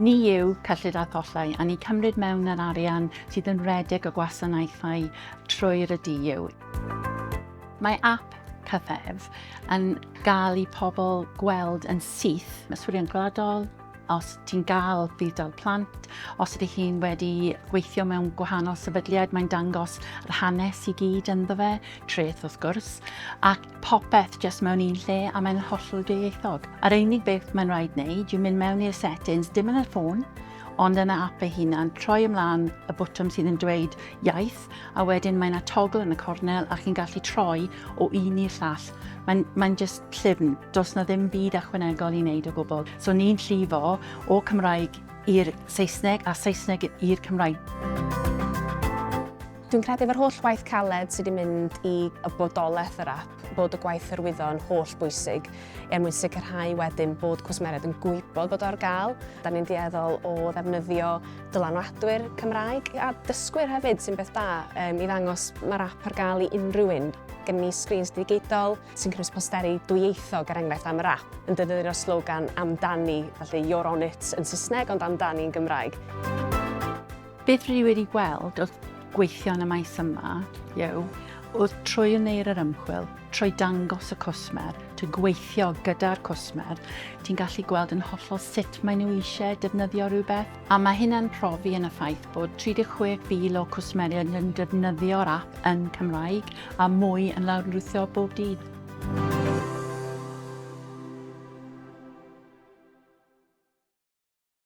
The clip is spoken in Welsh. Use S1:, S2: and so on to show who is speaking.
S1: Ni yw cyllid a thollau a ni'n cymryd mewn yr arian sydd yn rhedeg y gwasanaethau trwy'r y DU. Mae ap cyfef yn gael i pobl gweld yn syth mesurion gwladol, os ti'n gael budd-dal plant, os ydych chi'n wedi gweithio mewn gwahanol sefydliad, mae'n dangos yr hanes i gyd ynddo fe, treth wrth gwrs, ac popeth jyst mewn un lle a mae'n hollol dwyieithog. A'r unig beth mae'n rhaid wneud yw mynd mewn i'r settings, dim yn y ffôn, ond yn y app ei hunan, troi ymlaen y bwtwm sydd yn dweud iaith, a wedyn mae'n a togl yn y cornel a chi'n gallu troi o un i'r llall. Mae'n mae just llyfn, does na ddim byd achwanegol i wneud o gwbl. So ni'n llifo o Cymraeg i'r Saesneg a Saesneg i'r Cymraeg. Dwi'n credu efo'r holl waith caled sydd wedi mynd i y bodolaeth yr ap, bod y gwaith hyrwyddo yn holl bwysig er mwyn sicrhau wedyn bod cwsmeriaid yn gwybod bod o ar gael. Da ni'n dueddol o ddefnyddio dylanwadwyr Cymraeg a dysgwyr hefyd sy'n beth da um, i ddangos mae'r ap ar gael i unrhyw un gen ni screens digidol sy'n cynnwys posteri dwyieithog ar er enghraifft am yr app yn defnyddio'r slogan amdani, felly you're on it yn Saesneg ond amdani yn Gymraeg. Beth rwy wedi gweld wrth gweithio yn y maes yma yw, wrth troi yn neir yr ymchwil, trwy dangos y cwsmer, trwy gweithio gyda'r cwsmer, ti'n gallu gweld yn hollol sut maen nhw eisiau defnyddio rhywbeth. A mae hynna'n profi yn y ffaith bod 36,000 o cwsmeriaid yn defnyddio'r app yn Cymraeg a mwy yn lawrlwytho bob dydd.